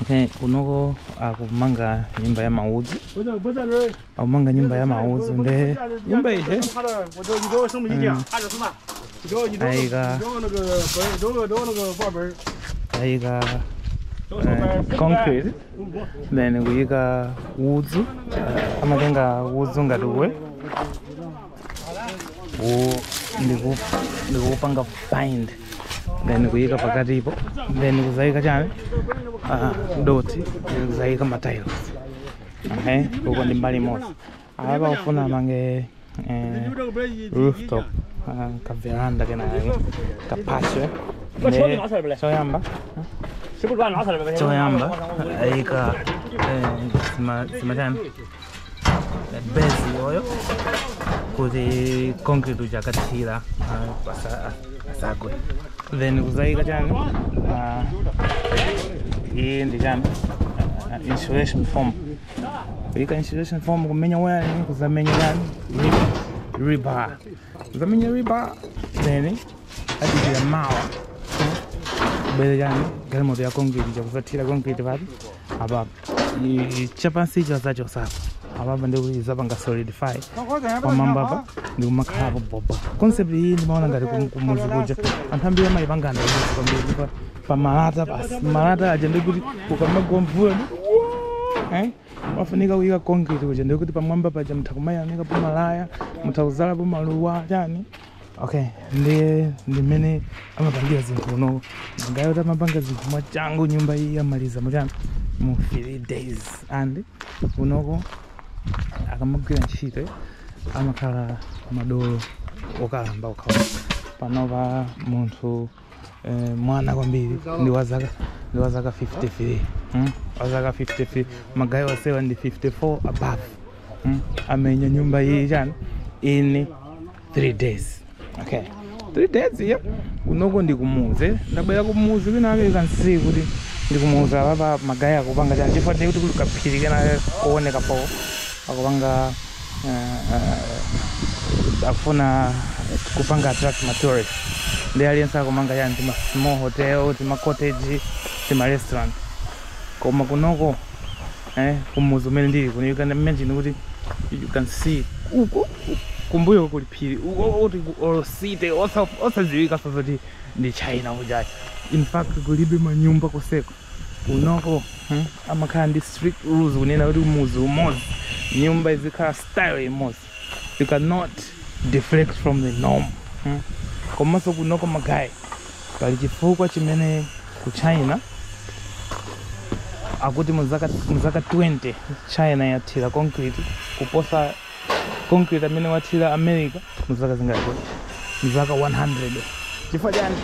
Okay, kunoko akumanga nyumba ya maudzu akumanga nyumba ya maudzu nde nyumba ija ayika ayika eh, concrete then kuyika udzu eh, amatenga udzu ngati uwu Ku- ndiku- ndikupanga find then kuyika pakatipo then kuzayika chani Ah, doti then kuzayika matiles okay uko ndi mbali imodzi apa akufuna amange eh, rooftop ah, kaveranda kenake kapamwamba Ne- choyamba choyamba ayika eh, sima- simachani base iyoyo kuti concrete uja akathira ah, pasa- ah, asagwe then kuzayika chani ah, iyi ndi chani Ah, ah, insulation form kuyika insulation form kumenya waya kuzamenya chani Rib- rebar kuzamenya rebar then adikira mawa kubere chani galimoto ya concrete chakuzathira concrete pati apapo chapansi icho azachosapo apapa ndikuti zapanga solidify pamwamba apa ndikumakhalapo bobo concept iyi ndimaona ngati kum- kumuzi kuja anthu ambiri amayipangana izi kwambiri pa- pa malata basi malata aja ndekuti ukamagwa mvula ndi Eh? wafunika kuyika concrete kuja ndikuti pamwamba paja mutha kumayanikapo malaya mutha kuzalapo maluwa chani okay ndiye ndimene amapangira zinthu kunoko magayi amapanga zinthu mwachangu nyumba iyi amaliza mu chani mu 3 days and kunoko akamagwira ntchito amakhala madolo okalamba okha awa panopa munthu eh, mwana kwambiri ndi wa zaka ndi wa zaka 53 mm? wa zaka 53 magayi onsewa ndi 54 above mm? amenya nyumba iyi chani in 3 days okay 3 days iyo kunoko ndi kumudzi ndabwera kumuzi kwinake pansi kuti ndi kumudzi apapa magayi akupanga chani chifukwa ndikuti kuli kaphiri kena kooneka bo akupanga afuna kupanga attract ma tourist ndiye aliyense akumanga chani tima small hotel tima cottage tima restaurant koma kunoko eh, kumuzi umene ndili kuno you can imagine kuti you can see uku kumbuyo kuli phiri kuti kotseri osadziwika nso zoti ndi china kujaku in fact kulibe manyumba koseko kunoko hmm? amakhala ndi strict rules kunena kuti muzi umodzi nyumba izikhala style imodzi you cannot deflect from the norm hmm? komanso kunoko magayi pali chifukwa chimene ku china akuti muzaka 20 china yathira concrete kuposa concrete amene wathira america mu zaka zingati mu zaka 100 chifukwa chani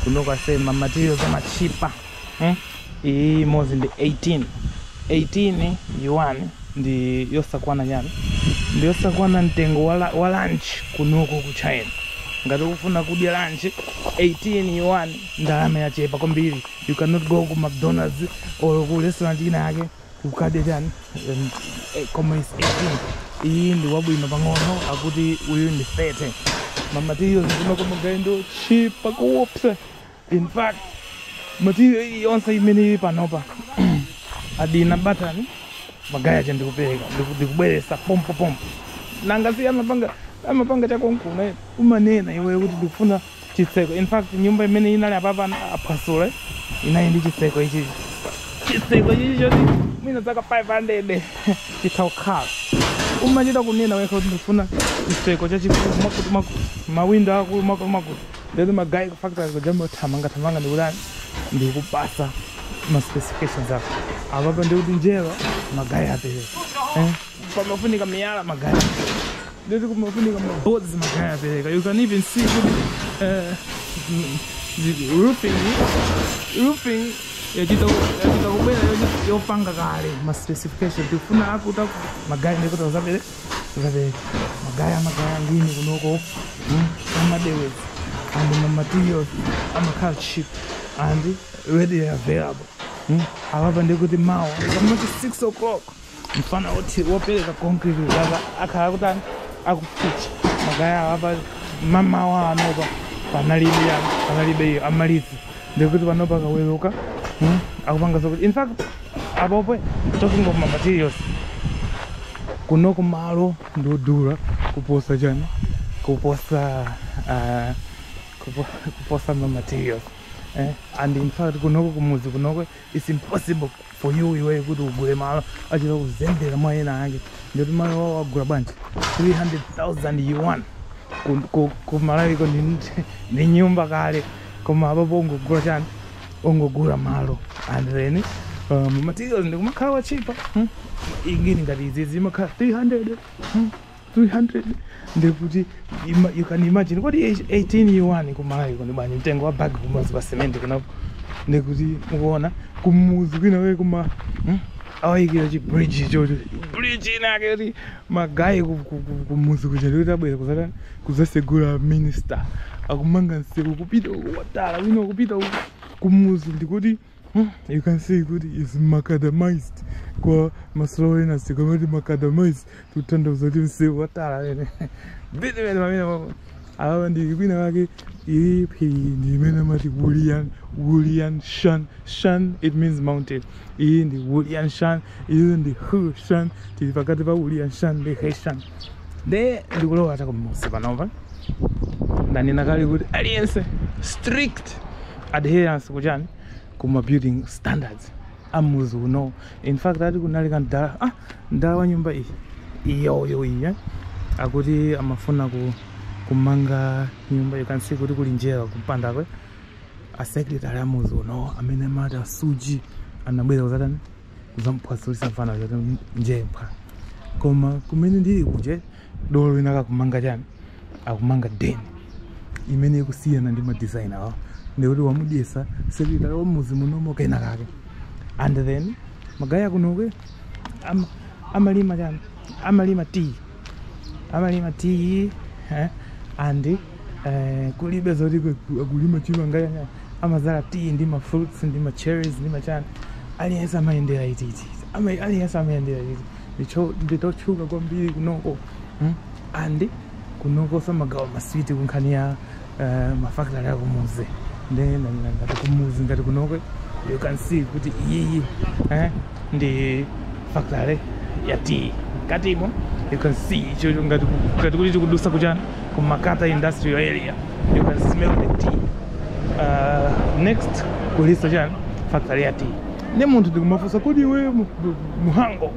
kunoko ase ma materials amachipa eh? iyi imodzi ndi 18 18 yuan ndi yosakwana chani ndi yosakwana mtengo wa la- wa lunch kunoko ku china ngati ukufuna kudya lunch 18 yuan ndalama yochepa kwambiri you cannot go ku mcdonalds or ku restaurant ina yake kukadya chani em, eh, koma is 18 iyi ndi wabwino pang'ono akuti uyu ndi 30 ma materials kunoko magaye ndotchipa koopsa in fact material iyi yonse imene ili panopa wadina batani magaye aja ndikupereka ndiku- ndikubweresa pompo pompo nanga si amapanga amapanga chakonkona umanena iweyo kuti ndikufuna chitseko in fact nyumba imene inali apapa aphwasula inali ndi chitseko ichi chitseko ichi choti mwina zaka 500 chitha kukhala umachita kunena wekha kuti ndifuna chitseko chachikulu mwakuti mwakuti mawindo akulu mwakuti mwakuti ndekuti magaye ku factory kuja amba kuthamanga thamanga ndikutani ndikupasa ma specifications ako apapa ndikuti njerwa magaye apereka eh? pamafunika miyala magaye ndekuti kumafunika ma boards magaye apereka you can even see kuti eh, mm, zi- roofing roofing yachita yachita kubwera yochi- yopanga kale ma specification tikufuna yakuti magaye ndikuti azapere azapereka magaye magaye a ngini kunoko mm, ama deliver and ma materials amakhala cheap and readily available mm, awa apa ndikuti mawa kamati 6 o'clock mfana woti wopereka concrete kuzaka akhala akutani akufika magaye awa apa mamawa anopa panalibe ya panalibe iyo amaliza ndekuti panopa akaweruka mm, akupanga zokuti in fact apopo talking of ma materials kunoko malo ndodula kuposa chani kuposa ah, kupo- kuposa ma materials eh? and in fact kunoko kumuzi kunoko It's impossible for you iweyo kuti ugule malo achita kuzembera mwa ena ake ndikuti malo wawo wagula bwanji 300,000 yuan ku, ku, ku Malawi ko ndi, ndi nyumba kale koma apapo ungogula chani ungogula malo and then um, materials ndikumakhala otchipa hmm? ngini ngati izizi imakhala 300 hmm? 300 ndekuti ima- you can imagine kuti 18 yuan ku Malawi ko ndi bwanji mtengo wa bag imodzi ya cement kunoko ndekuti mukuona kumuzi kwina we kuma hmm? awayikira chi bridge choti bridge inake yoti magaye ku- ku- ku- kumuzi kuja ndikuti abwera kuzata kuzasegula minister akumanga msewu kupita uku wa tala wina kupita uku kumuzi ndikuti Hmm, you can see kuti is macadamized kwa ma slow learner sikamati macadamized tutanthauza kuti msewu watala amene phiri limene mmene awa ndi kwinakwake phiri ndi imene amati wulian wulian shan shan it means mountain iyi ndi wulian shan izi ndi hushan tili pakati pa ulianshan ndi heshan nde ndikulowa chakumudzi panopa ndanena kale kuti aliyense strict adherence kuchani kuma building standards amudzi uno in fact ati kunali ka mdala ah mdala wa nyumba iyi iyoyo iyi eh? akuti amafuna ku kumanga nyumba you can see kuti kuli njerwa kumpandakwe a secretary amudzi uno amene amati a shuji anabwera kudzatani kudzamuphwasulitsa mfana zoti njemba koma kumene ndili kuje dolo wina akakumanga chani akumanga deni imene ikusiyana ndi ma design awo ndikuti wamudyetsa secretary wa mudzi munomo kenakake and then magaye akunoko am, amalima chani amalima tea amalima tea eh, and eh, kulibe zoti kulima chimanga chani amadzala tea ndi ma fruits ndi ma cherries ndi machani aliyense amayendera tea tea Ama- aliyense amayendera tea tea ndicho ndi chotchuka kwambiri kunoko hmm? and kunoko samagawa maswiti kunkhani ya uh, ma factory akumudzi nde ngati kumudzi ngati kunoko you can see kuti iyiyi eh? ndi factory ya tea mkatimo you can see icho ngati ku- ngati kuti tikudutsa kuchani ku makata industrial area you can smell the tea uh, next kulinso chani factory ya tea nde munthu n'kumafunsa kodi iwe mu- mu- muhango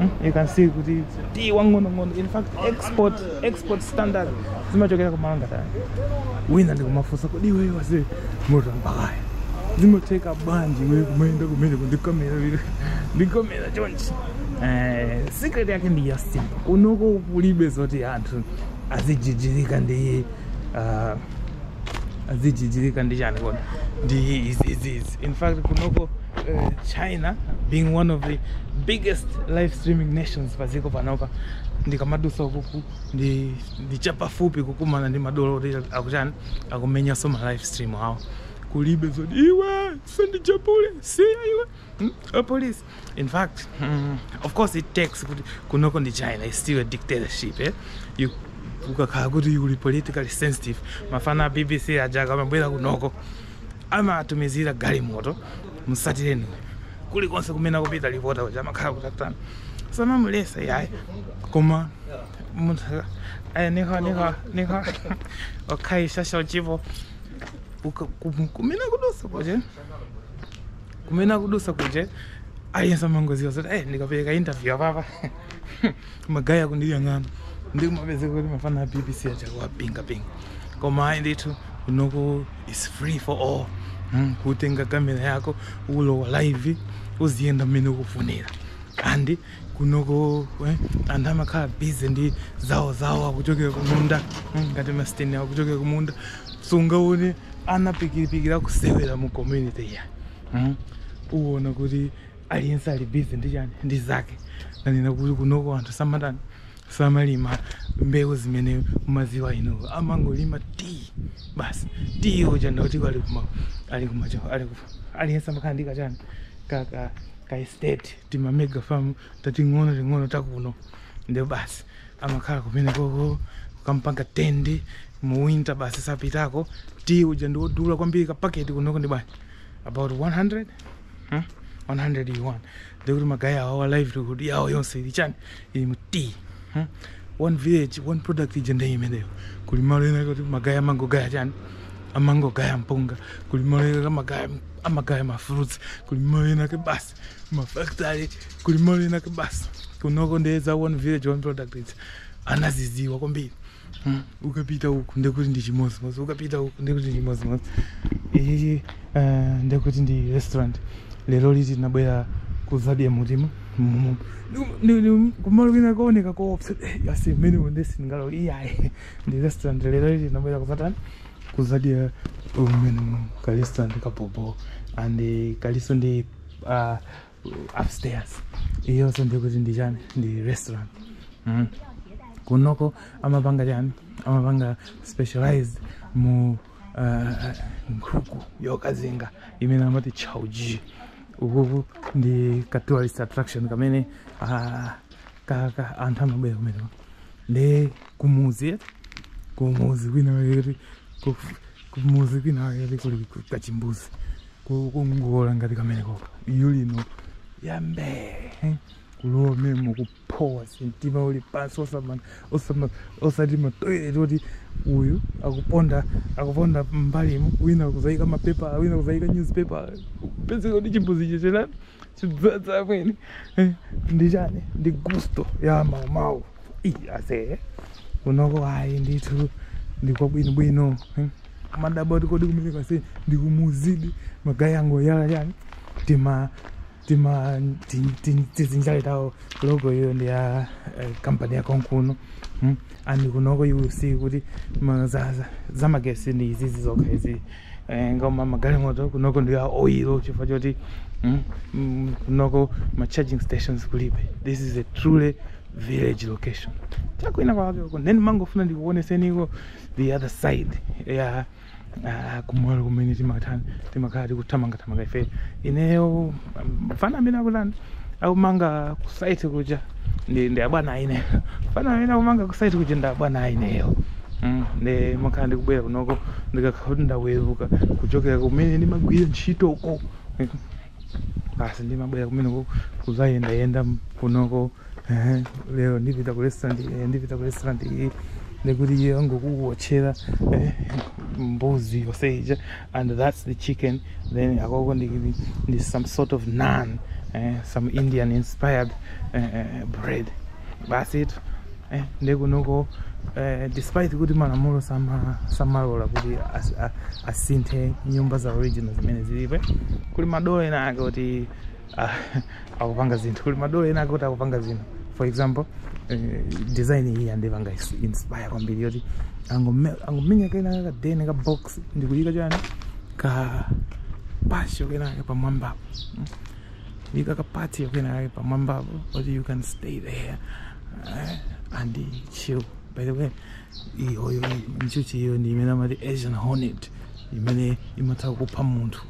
Hmm? you can see kuti tea wang'onong'ono in fact export export standard zimachokera ku malo ngati ano wina n'kumafunsa kodi iweyo wase moto mpakaya zimatheka bwanji iwe kumayenda kumeneko ndikomera lero ndikomera chonchi Eh, secret yake ndi ya simple kunoko kulibe zoti anthu azijijirika ndi ah, azijijirika ndi chani kodi ndi izi izi izi in fact kunoko uh, china being one of the biggest live streaming nations padziko panopa ndikamadutsa ukuku ndi ndi chapafupi kukumana ndi madolo oti akuchani akumenyanso ma live stream awo kulibe zoti iwe sandijapule siya iwe hmm? a police in fact mm, of course it takes kunoko ndi china is still a dictatorship eh? you ukakhala kuti uli politically sensitive amfana a bbc aja akamabwera kunoko amatumizira galimoto m'satireni kulikonse kumene akupita lipota uja amakhala kuti atani samamuletsa yayi koma munthu aka- aya niho niho niho okhaishasha uchipo uka- kum- kumene akudutsa kuja kumene akudutsa kuja aliyense amangodziwa zoti eh ndikapereka interview apapa magaye akundiyang'ana ndikumapezeka kuti mafana a bbc achakuwapingapinga koma ayi ndithu kunoko It's free for all. Mm, kutenga kamera yako ulowa live uziyenda mmene ukufunira and kunoko eh, anthu amakhala busy ndi zawo zawo akuchokera kumunda mm, ngati masteni akuchokera kumunda sungaone ana pikiripikiri akusewera mu community eya mm. uona kuti aliyense ali busy ndi chani ndi zake nnanena kuti kunoko anthu samatani samalima mbewu zimene mumadziwa inu amangolima tea basi tea uja ndikuti ali kuma ali kuma cho ali ku aliyense amakhala ndi kachani ka ka ka estate tima mega farm tating'ono ting'ono takuno ndiye basi amakhala kumene koko kukampanga tend mu winter basi sapitako tea uja ndiwodula kwambiri ka paketi kunoko ndi bwanji about 100 huh? 100 yuan ndekuti magaye awowa livelihood yawo yonse ili chani mu tea hmm? one village one product ija ndi imeneyo kuli malo ena kuti magaye amangogaya chani amangogaya mpunga kuli malo ena amaga amagaya mafruits kuli malo enaake basi mafactory kuli malo enaake basi kunoko nde za one village one product ija anazidziwa kwambiri Hmm, ukapita uku ndekuti ndi chimodzimodzi ukapita uku ndekuti ndi chimodzimodzi ichichi uh, ndekuti ndi restaurant lero liti tinabwera kuzadya mutimu mumu kumalo kwina kooneka koopsa Eh, asi mmene unde sindingalo iyayi ndi restaurant dzulo liti tinabwera kuzatani kuzadya mmene ka restaurant kabhobho and eh, kalinso ndi uh, upstairs iyonso ndekuti ndi chani ndi restaurant mm. kunoko amapanga chani amapanga specialize mu uh, nkhuku yokazinga imene amati chauji ukuku ndi ka tourist attraction kamene uh, ka, ka anthu amabwera kumeneko nde kumudzi kumudzi kwina kuti kumudzi kwinakwake kuli kachimbuzi kokongola ngati kameneko iyo lino yambee eh? kulowa momo kuphowa mtima uli pansi osama- osama- osati matoilet oti uyu akuponda akuponda m'mbalimu wina kuzayika mapepa wina kuzayika newspaper pezeka kuti chimbuzi checherani Chidzadza amene Eh, ndi chani ndi gusto ya maumawu Ii, ase kunoko ayi ndithu ndikwabwinobwino eh. Mmadabwa kuti kodi kumene kase ndikumuzidi magayi ango yala chani tima tima ti- ti- tizinjali tawo logo iyo ndi ya eh, kampani ya konkuno mm. and kunoko you will see kuti ma- za- za- zamagesi ndi izizi zokha izi eh, ngoma magalimoto kunoko ndi a oil chifukwa choti mm, mm, kunoko ma charging stations kulibe this is a truly village location chakwina kwakeko then mangofuna ndikuoneseniko the other side ya ah, kumalo kumene timathana timakhala tikuthamangathamanga ife ineyo mfana amene akutani akumanga ku site kuja ndi ndi abwana aine mfana amene akumanga ku site kuja ndi abwana aineyo Mm, nde makhala ndikubwera kunoko ndikakhala kuti ndaweruka kuchokera kumene ndimagwira ntchito uko basi ndimabwera kumene ku- kuzayendayenda kunoko Ehe, lero ndipita ku restaurant eh, ndipita ku restaurant iyi ndikuti iye angokuwotchera eh, mbuzi yonse ija and that's the chicken then akoko ndi, ndi some sort of naan eh, some indian inspired eh, eh, bread that's it eh, ndikunoko eh, despite kuti malamulo sama- samalola kuti as- a- asinthe nyumba za original zimene zilipo kuli madolo ena ake kuti ah, akupanga zinthu kuli madolo ena akuti akupanga zinthu for example eh, design iyi yandipanga inspire kwambiri yoti angomenya kena ka deni ka box ndikuyika chani ka patio kenakake pamwambapo hmm? yika ka patio kenakake pamwambapo oti you can stay there eh, and chill by the way iyoyo njuchi iyo ndi imene amati asian hornet imene imatha kupha munthu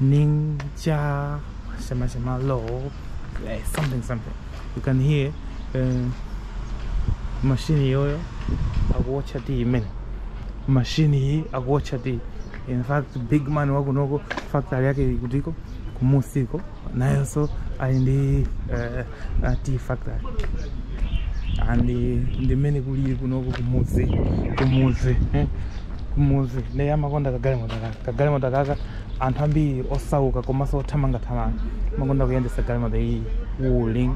Ninja Shema Shema Lo like something something you can hear um, machine yoyo akuwatcha tea imene machine iyi akuwatcha tea in fact big man wakunoko factory yake ikutiko kumusiko nayonso ali ndi uh, tea factory and ndi mmene kulili kunoko kumuzi kumuzi eh, kumuzi nde amakonda kagalimoto kaka kagalimoto kaka anthu ambiri osauka komanso othamangathamanga amakonda kuyendesa galimoto iyi wuling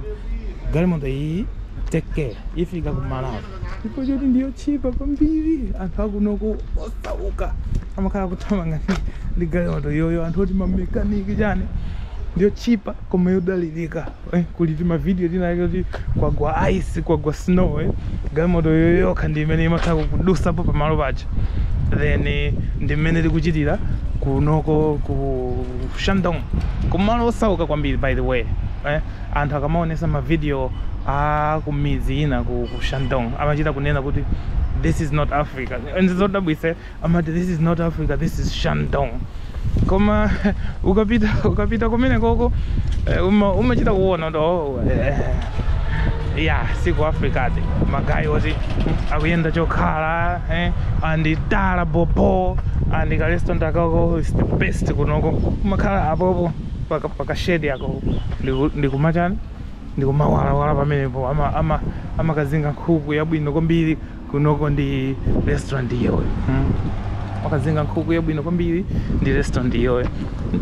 galimoto iyi take care ifika kumalawi ndipo choti ndiyotchipa kwambiri anthu akunoko osauka amakhala kuthamanga ndi- ndi galimoto yoyo anthu oti mamekaniki chani ndiyotchipa koma yodalirika eh, kuli timavidiyo tina ake kuti kwagwa ice kwagwa snow eh. galimoto yoyokha ndi imene imakhala ikudusapo pamalo paja then eh, ndi mmene tikuchitira kunoko ku shandong kumalo osauka kwambiri by the way eh. anthu akamaonesa mavidiyo a kumidzi ina ku, ku shandong amachita kunena kuti this is not africa nzodabwitsa amati this is not africa this is shandong koma ukapita ukapita kumene koko eh, uma- umachita kuona kuti oh, eh, ya siku africa ati magaye oti akuyenda chokhala eh, andi tala bobo andi ka restaurant akako is the best kunoko umakhala apopo paka- paka shade yako ndiku- ndikumachani ndikumawalawala pamenepo ama- ama- amakazinga nkhuku yabwino kwambiri kunoko ndi restaurant iyoyo hmm? amakazinga nkhuku yabwino kwambiri ndi restaurant iyoyo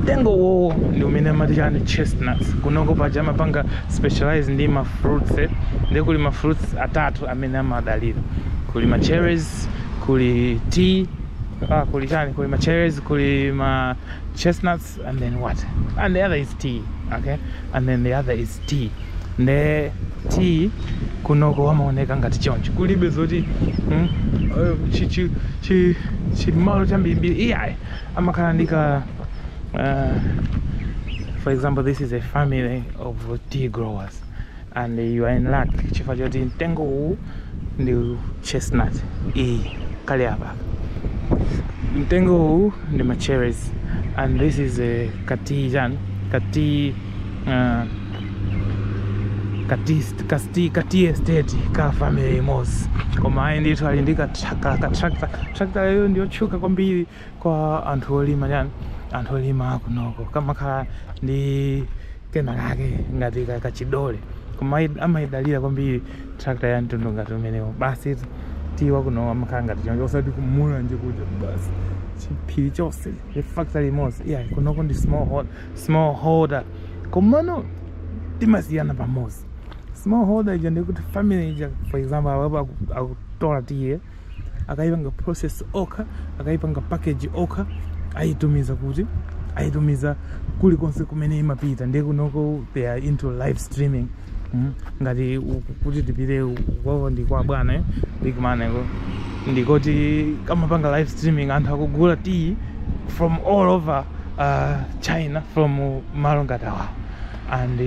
mtengo uwowo ndi umene amati chani chestnuts kunoko paja amapanga specialize ndi ma fruits eh? ndi kuli ma fruits atatu amene amadalira kuli ma cherries kuli tea ah, kuli chani kuli ma cherries kuli ma chestnuts and then what and the other is tea okay and then the other is tea nde tea kunoko amaoneka ngati choncho kulibe zoti hmm? eh, chimalo chambirimbiri iyayi amakhala ndi ka uh, for example this is a family of tea growers and you are in luck chifukwa choti mtengo uwu ndi chestnut iyi kali apa mtengo uwu ndi ma cherries and this is a ka tea chani ka tea uh, ka tea ka tea ka tea estate ka family imodzi koma ayi ndithu ali ndi ka tractor ka tractor tractor iyo ndiyotchuka kwambiri Kwa anthu olima chani, anthu olima kunoko kamakhala ndi kena kake ngati kachidole koma amayidalira kwambiri tractor ya mtundu ngati umenewo basi tea wa kuno amakhala ngati choncho osati ku Mulanje kuja basi chiphiri chonse ndi factory imodzi iyayi kunoko ndi small holder, small holder komano timasiyana pamodzi small holder ija ndikuti family ija for example akutola tiyi akaipanga process okha akaipanga package okha aitumiza kuti aitumiza kulikonse kumene imapita ndiye kunoko they are into live streaming mm. ngati kuti tipite kwao ndi kwa bwana eh, big man eko ndikoti kamapanga live streaming anthu akugula tiyi from all over uh, china from malo ngati awawo and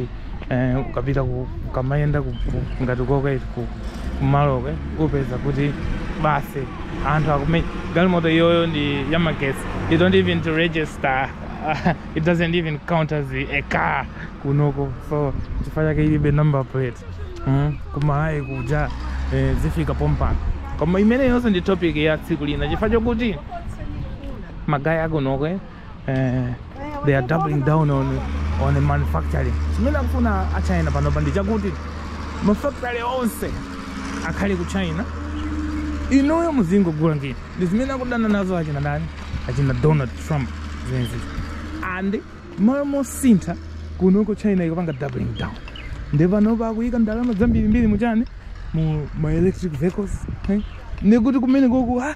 eh, ukapita ku- ukamayenda ku- ku- ngati koka ife ku- kumalokwe upeza kuti basi anthu akume galimoto iyoyo ndi yamagesi you don't even to register it doesn't even count as a car kunoko so chifukwa chake ilibe number plate mm? ku Malawi kuja eh, zifika pompano koma imeneyonso ndi topic ya tsiku lina chifukwa chokuti magaye akunoko eh, they are doubling down on, on the manufacturing chimene akufuna a china panopa ndi chakuti mafactory onse akhale ku china inuyo muzingogula ngini ndi zimene akudana nazo achina ndani achina donald trump zimenezi and malo mosintha kunoko china ikupanga doubling down ndi panopa akuyika ndalama zambirimbiri muchani mu ma electric vehicles eh? nekuti kumene koku ah,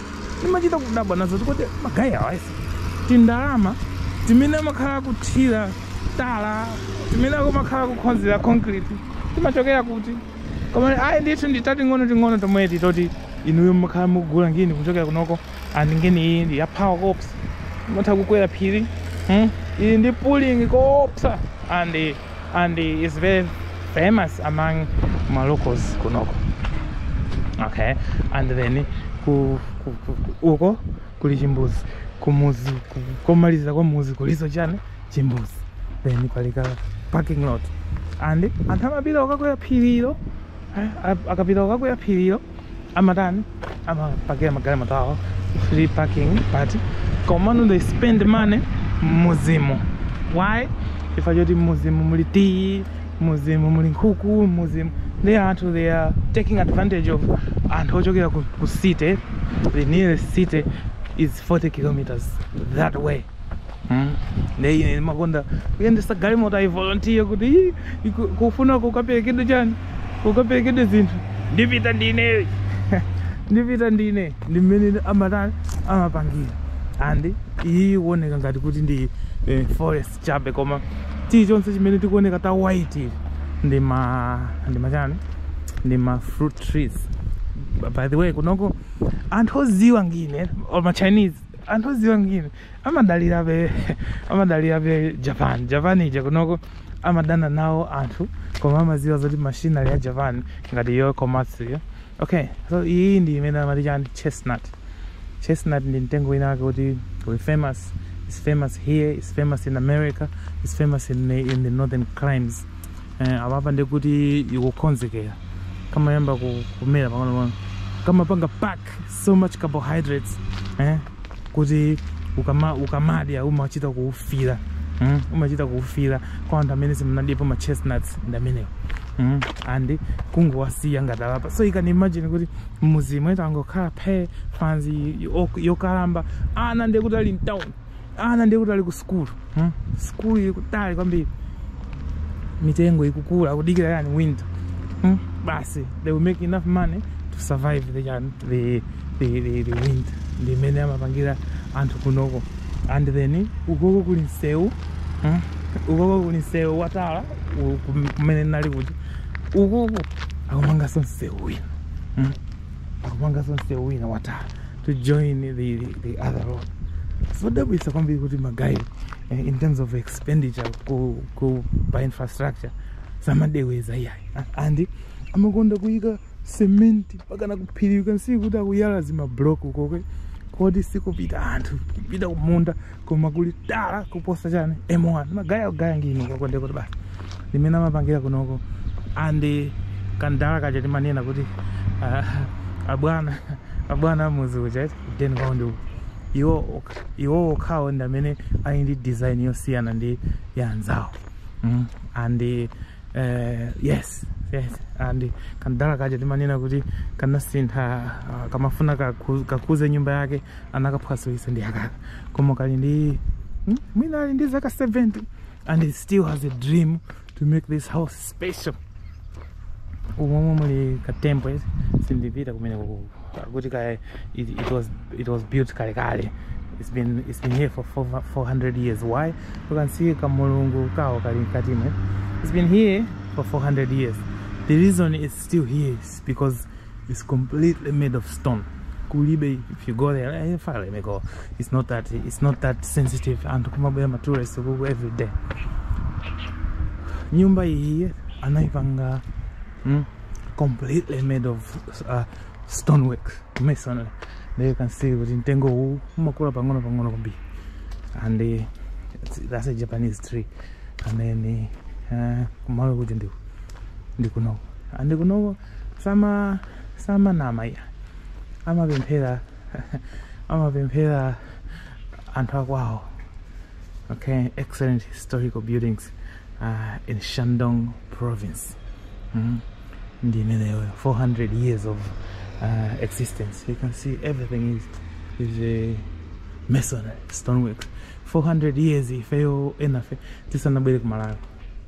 timachita kudabwa nazo kuti magayi awa eti ndalama timene amakhala akuthira tala timene akumakhala kukhonzera concrete timachokera kuti koma ayi ndithu nditating'ono ting'ono tomweti toti inuyo mukhala mukugula ngini kuchokera kunoko and ngini iyi ndi ya power koopsa mutha kukwera phiri hmm? iyi ndi pulling koopsa and and is very famous among ma locals kunoko okay and then ku, ku, ku, ku uko kuli chimbuzi kumuzi ku- komaliza kwa muzi kuliso chani chimbuzi then palika parking lot and anthu amapita okakwera phiriro eh, a- akapita okakwera phiriro amatani amapakira magalimoto awo free parking but komano they spend money mmuzimu why chifukwa choti mmuzimu muli tiyi mmuzimu muli nkhuku mmuzimu ndi anthu they are taking advantage of anthu ochokera ku, ku city the nearest city is 40 kilometers that way Hmm? Ndiye ine ndimakonda kuyendesa galimoto I volunteer kuti "Ii, iku- kufuna kukaperekedwe chani kukaperekedwe zinthu ndipita ndine ndipita ndine ndi mmene amatani amapangira andi iyi ikuoneka ngati kuti ndi eh, forest chabe koma chilichonse chimene chikuoneka cha white ichi ndi ma ndi machani ndi ma fruit trees by the way kunoko anthu oziwa ngini or ma chinese anthu odziwa ngini amadalirabe amadalirabe japan japan ija kunoko amadana nawo anthu koma amadziwa zoti machinery ya japan ngati iyo komatsu iyo okay so iyi ndi imene amati chani chestnut chestnut ndi mtengo wina wake kuti we famous it's famous here it's famous in america it's famous in, the- in the northern climes eh, apapa ndikuti ikukonzekera kamayamba ku- kumera pang'onopang'ono kamapanga pack so much carbohydrates eh? kuti ukama, ukamadya umachita kuusira mm? umachita kuusira kwa anthu amene simunadyepo ma chestnuts ndi amenewo mm? and kungowasiya ngati apa so you can imagine kuti mmuzimu eti angokhala phee fanzi yo- yokalamba ana ndiye kuti ali mtown ana ndiye kuti ali ku sukulu hmm? sukulu ili kutali kwambiri mitengo ikukula kudikira yani winter hmm? basi they will make enough money to survive the, yani, the, the, the, the winter ndi mmene amapangira anthu kunoko and then ukoko kuli msewu hmm? ukoko kuli msewu watala u- kum- kumene nali kuti ukoko akumanganso msewu wina hmm? akumanganso msewu wina watala to join the, the other road zodabwitsa kwambiri kuti magayi eh, in terms of expenditure ku, ku pa infrastructure samadeweza iyayi A- and amakonda kuyika cement mpakana kuphiri you can see kuti akuyala zimablock ukoko koti sikupita anthu kupita kumunda koma kuli tala kuposa chani m1 magaya gaya ngino koko ndiye kuti basi ndi mmene amapangira kunoko and kamdala kaja timanena kuti ah, abwana abwana amudzi uja eti then kwao ndi uku. iwo ok- iwo okhawo ndi amene ali ndi design yosiyana ndi ya anzawo mm. and Eh, yes yes and kamdala kaja timanena kuti kanasintha ah, kamafuna kaku- kakuze nyumba yake anakaphwasulitsa ndi akaka koma kali ndi hmm, mwina ali ndi zaka 70 and he still has a dream to make this house special umomo muli katempo esi sindipita kumene kuku kuti kaya it, it, was, it was built kale kale it's been, it's been here for 400 years why you can see kamulungu kawo kali mkati mwe it's been here for 400 years the reason it's still here is because it's completely made of stone kulibe if you go there eh, file may go it's not that it's not that sensitive and kumabwera ma tourists kuku every day nyumba iyi anaipanga mm, completely made of uh, stonework masonry there you can see kuti mtengo uwu umakula pang'ono pang'ono kwambiri and uh, that's a japanese tree and then uh, kumalo kuja ndi ndi kunoko and kunoko sama samanama iya amapemphera amapemphera anthu akwawo okay excellent historical buildings uh, in Shandong province mm? ndi imeneyo 400 years of uh, existence you can see everything is, is uh, masonry stonework 400 years ifeyo enafe tisanabwere kumalawi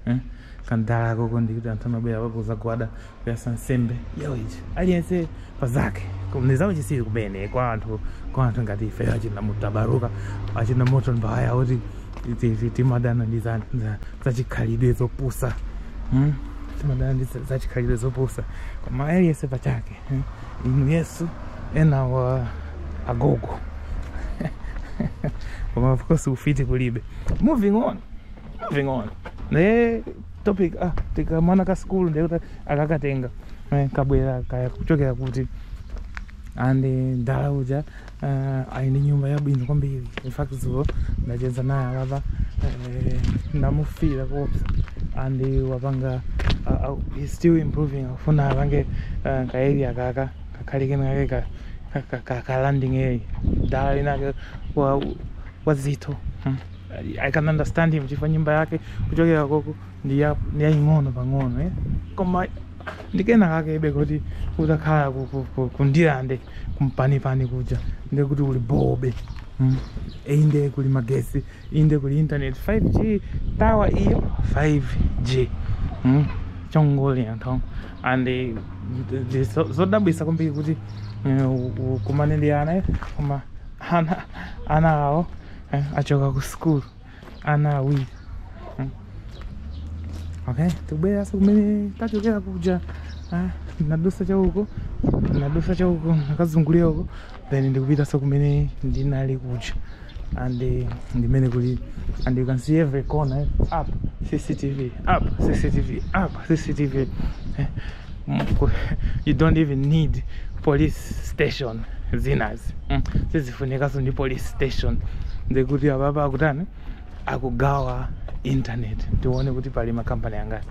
eh? kandalako kondikuti anthu amabwera kudzagwada yatsa nsembe yawo ichi aliyense pa zake Koma ndi za uchitsiru kumene kwa anthu kwa anthu ngati ife achina mutabaruka achina moto mbaya oti ti- ti- ti- timadana ndi za- za- zachikhalidwe zopusa Hmm? timadana ndi za- zachikhalidwe zopusa koma aliyense pa chake hmm? inu yesu ena wa agogo koma of course ufiti kulibe moving on moving on ne topic ah ndi kamwana ka school ndiye kuti akakatenga eh, kabwera kaya kuchokera kuti and mdala uja uh, ali ndi nyumba yabwino kwambiri in fact dzulo ndacheza naye alapa eh, ndamufira koopsa and wapanga uh, uh, he's still improving akufuna apange uh, ka area kaka kakhale kena kake ka- ka- ka- ka- ka landing area mdala winake wa- wazitho hmm. I can understand him chifukwa nyumba yake kuchokera koko ndi ya- ndi yaying'ono pang'ono eh? koma ndi kenakakebe kuti utakhala ku- ku- ku- ku Ndirande kumpanipani kuja nde kuti uli bobe mm. inde kuli magesi inde kuli internet 5g tower iyo 5g mm. chongoti anthu and eh, ndi- ndi zo- zodabwisa kwambiri kuti eh, u- ukumane ndi ana eh, koma ana ana awo eh, achoka ku school ana awiri mm. okay tibwerenso kumene tachokera kuja eh, nadusa chauko nadusa chauko nakazungulira uko then ndikupitanso kumene ndinali kuja and uh, ndimene kuli and you can see every corner eh, up cctv up cctv up cctv eh, you don't even need police station zinazi mm. sizifunikaso ndi police station ndekuti apapa akutani akugawa internet tione kuti pali makampani angati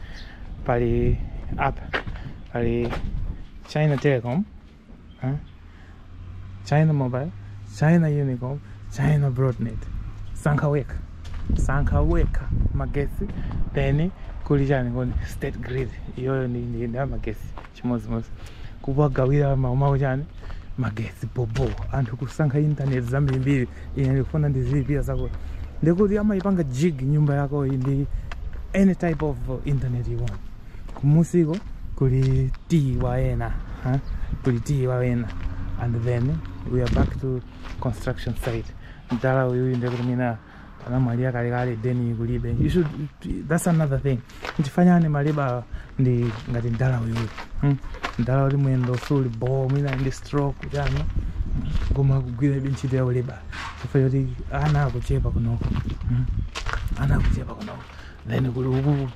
pali apa pali china telecom Huh? China Mobile, China Unicom, China Broadnet. Sankha wekha. Sankha wekha. Magesi. Then kuli chani koni state grid. Iyoyo ndi ndi ndi magesi chimodzimodzi. Kuwagawira maumawo chani magesi bobo. Anthu kusankha internet zambirimbiri. Ine ndikufuna ndizilipira zako. Ndiye kuti amayipanga jig nyumba yako iyi ndi any type of internet you want. kumusiko kuli TV ena huh? kuli TV ena and then we are back to construction site mdala uyu inde kuti mwina anamwalira kalekale deni kulibe you should that's another thing tifanyane maleba ndi ngati mdala uyu hmm? mdala kuti mwendo suli bo mwina ndi stroke chani koma kugwira ntchito ya uleba chifukwa choti ana akuchepa kunoko hmm? ana akuchepa kunoko then kuli uku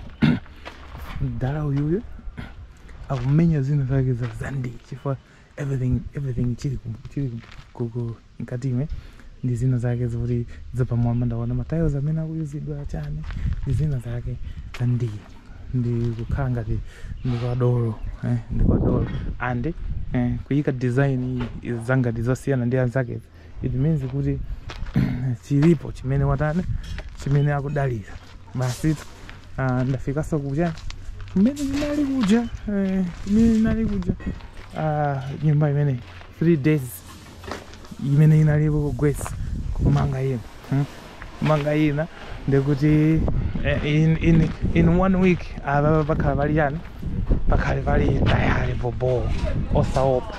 mdala uyuyu akumenya zina zake za zandi chifukwa everything everything chili ku- chili ku- ku- mkati imwe ndi zina zake zoti zapamwamba ndaona matiles amene akuyuzidwa chani ndi zina zake zandi ndi kukhala ngati ndi kwa dolo eh, ndi kwa dolo and eh, kuyika design iyi za ngati zosiyana ndi anzake it means kuti chilipo chimene watani chimene akudalira basi uh, ndafikanso kuja mmene ndinali kuja eh, mmene ndinali kuja Ah, nyumba imene three days imene inaliko kugwetsa kumanga ina hmm? kumanga ina ndekuti eh, in, in, in one week ababa bakhala bali yani bakhale bali tayari bobo osaopa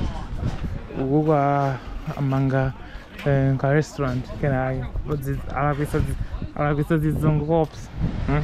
uku kwa amanga eh, ka restaurant kenake alakwisa zizungu kops hmm?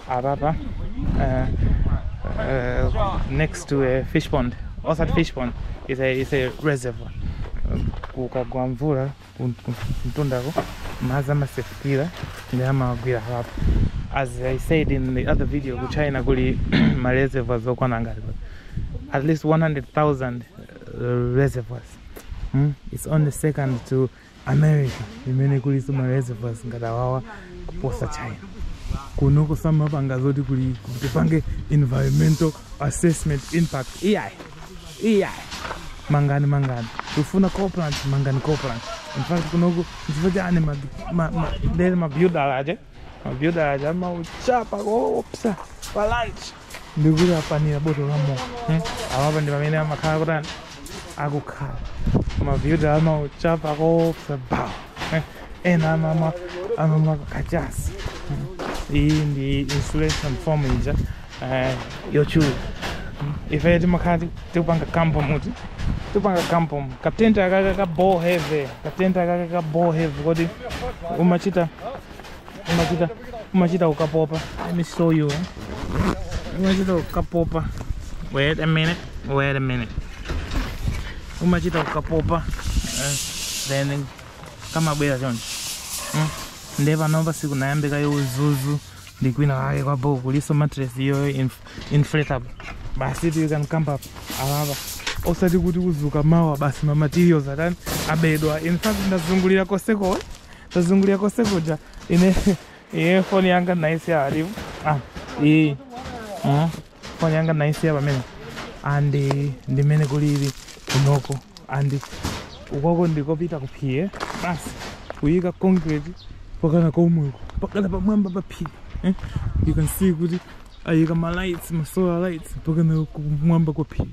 apapa uh, uh, next to a fish pond osati fish pond is a, is a reservoir kukagwa mvula mtundako madzi amasefukira ndiye amagwira apapa as i said in the other video ku china kuli ma reservoirs okwana ngati at least 100000 uh, reservoirs mm? it's only second to America imene kulinso ma reservoirs ngati awawa kuposa China kunoku samapanga zoti kuli tipange environmental assessment impact iyayi iyayi mangani mangani tifuna coal plant mangani coal plant in fact kunoku nchifukwa chani ma- ma- ma- ndere mabuilder aja Mabuilder aja amauchapa koopsa pa lunch. Ndikuti apanira boto la mowa. Hmm? Awapa ndi pamene amakhala kutani akukhala. Mabuilder amauchapa koopsa bawo. Eh, Ena amamwa amamwa kachasi. Hmm? Iyi ndi insulation foam ija eh, yochulu ife timakhala ti- tikupanga kampo muti tipanga camp katenti akaka ka boo heavy katenti akaka ka boo heavy kodi umachita umachita umachita ukapopa let me show you eh. umachita ukapopa wait a minute wait a minute umachita ukapopa eh, then kamabwera choncho mm. nde panopa sikunayambike yo udzudzu ndi kwina kake kwa boo kulinso mattress iyo inf- inflatable basi it you can camp up apapa osati kuti kudzuka mawa basi ma materials atani abedwa in fact ndazungulira koseko ndazungulira koseko ja ine iye foni yanga naisiya apo ah iyi Mhm. foni yanga naisiya pamene and ndimene kulili kunoko and ukoko ndikopita kuphiri basi kuyika concrete pakana komweko pakana pamwamba pa phiri eh? you can see kuti ayika ma lights ma solar lights pakana kumwamba kwa phiri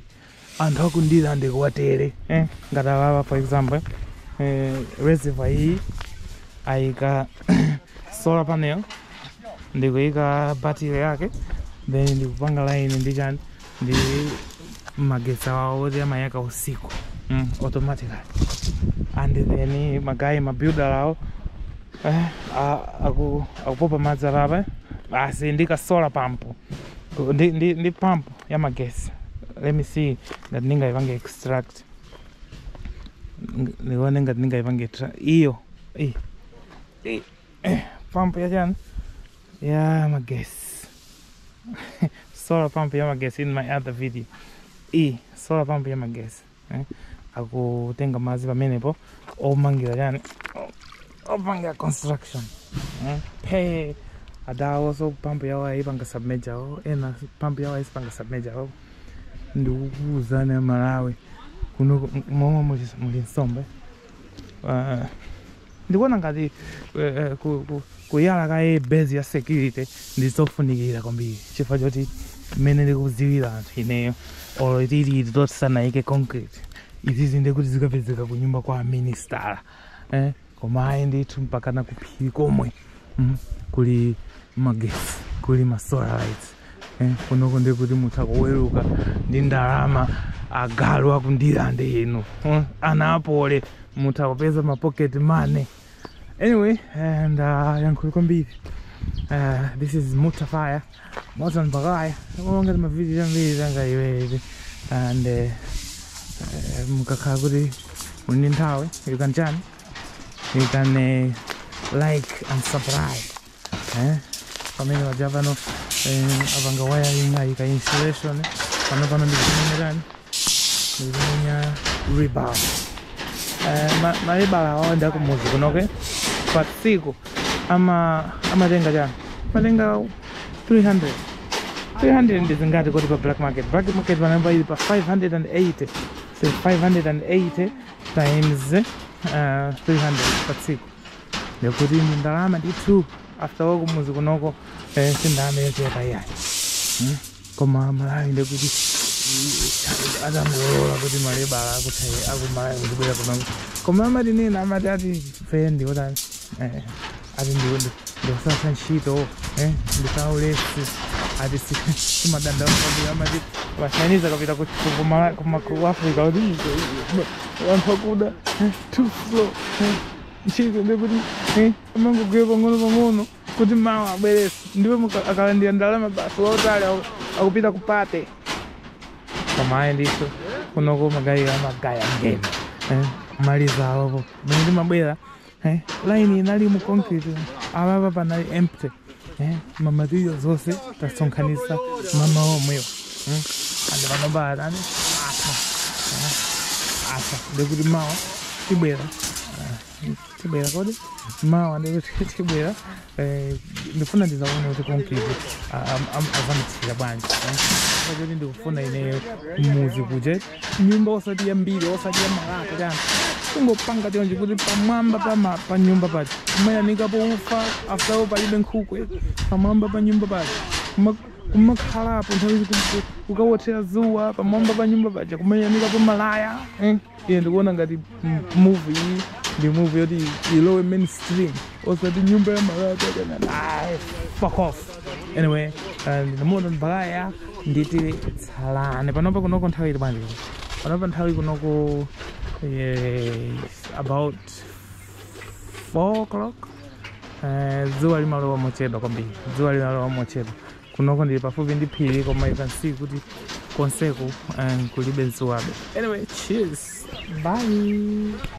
anthu akundirande kuwatere eh? ngati awawa for example eh, reservoir iyi ayika solar panel ndikuyika battery yake then ndikupanga line ndi chani ndi magetsi awawo oti amayaka usiku mm, automatically and then magayi mabuilder awo eh, a- aku- akupopa madzi apapa basi ndi ka solar pump ndi, ndi, ndi pampu yamagesi let me see ngati ndingaipange extract ndione ngati ndingaipange iyo pampu yachani ya magesi solar pump ya magesi in my other video e solar pump ya magesi eh, akutenga madzi pamenepo omangira chani opangira construction eh, phe adawo so pampu yawo ayipanga submerge awo ena pampu yawo ayisipanga submerge awo ndikukuuzani amalawi kuno momwe muli nsomba uh, ndikuona ngati uh, ku, ku, kuyala kaye base ya security ndizofunikira kwambiri chifukwa choti mmene ndikudziwira anthu ineyo olo tili tisanayike concrete izizi ndekuti zikapezeka kunyumba kwa ministala eh? koma ayi ndithu mpakana kuphiri komwe mm? kuli magesi kuli masolar lights Eh, kunoko ndiye kuti mutha kuweruka ndi ndalama agalu akundirande inu eh, ana apole mutha kupeza ma pocket money anyway eh, ndayankhula kwambiri eh, this is mutafaya moto mpakaya ngati mavidiyo ambiri zanga iwezi and eh, eh, mukakhala kuti muli ndi nthawi you can chani you can eh, like and subscribe eh? pamene paja pano eh, apanga wiring ayika insulation pano pano ndikuzimenya chani ndikumenya rebar eh, ma- malebala awa ndi akumuzi kunoko pa tsiku ama amatenga chani amatenga 300 300 ndi zingati kodi pa black market black market panopa ili pa 580 so 580 times uh, 300 pa tsiku ndikuti ndi ndalama ndithu after all kumuzi kunoko eh, si ndalama yochepa iyayi Hmm? koma malawi ndikuti atangolola kuti malebala akuthe akumalawi kuzibwera kunoko koma amatinena amati ati ife ndi otani eh, ati ndiwo ndikusatha ntchito eh, ndi aulesi ati amadandaula kwambiri amati ma Chinese akapita ku- ku- ku Mala- ku ma- ku africa kuti anthu akuda eh, too slow eh. ntchito ndi kuti eh, amangogwira pang'ono pang'ono kuti mawa abwerenso ndipo muka- akalandira ndalama basi wautali aku- akupita ku party koma ayi ndithu kunoko magaye a magaye a ngeni eh, kumaliza awapo mene ndimabwera eh, laini inali mu concrete apapa panali empty eh, ma material zonse tasonkhanisa mamawa omwewo mm. and panopa atani atha eh, atha ndikuti mawa tibwera eh, tibwera kodi mawa ndikuti tibwera eh, ndifuna ndizaone kuti konkili azamiksira bwanji eh. Chifukwa choti ndikufuna ineyo muzi kuje nyumba osati ya mbiri osati ya malata chani kungopanga chonje kuti pamwamba pa ma- pa nyumba paja kumayanikapo ufa after all palibe nkhukwe pamwamba pa nyumba paja kumakhalapo nthawi zakuti ukawothera zuwa pamwamba pa nyumba paja kumayanikapo malaya eh, iye ndikuona ngati move iyi ndi move yoti ilowe mainstream osati nyumba ya malata ayi fuck off anyway and namuona mbakaya nditi tsalani panopa kunoko nthawi ili bwanji panopa nthawi kunoko yes, about 4 o'clock Eh, dzuwa limalowa mochedwa kwambiri dzuwa limalowa mochedwa kunoko ndili pafupi ndi phiri koma you can see kuti konseku um, kulibe dzuwabe anyway cheers bye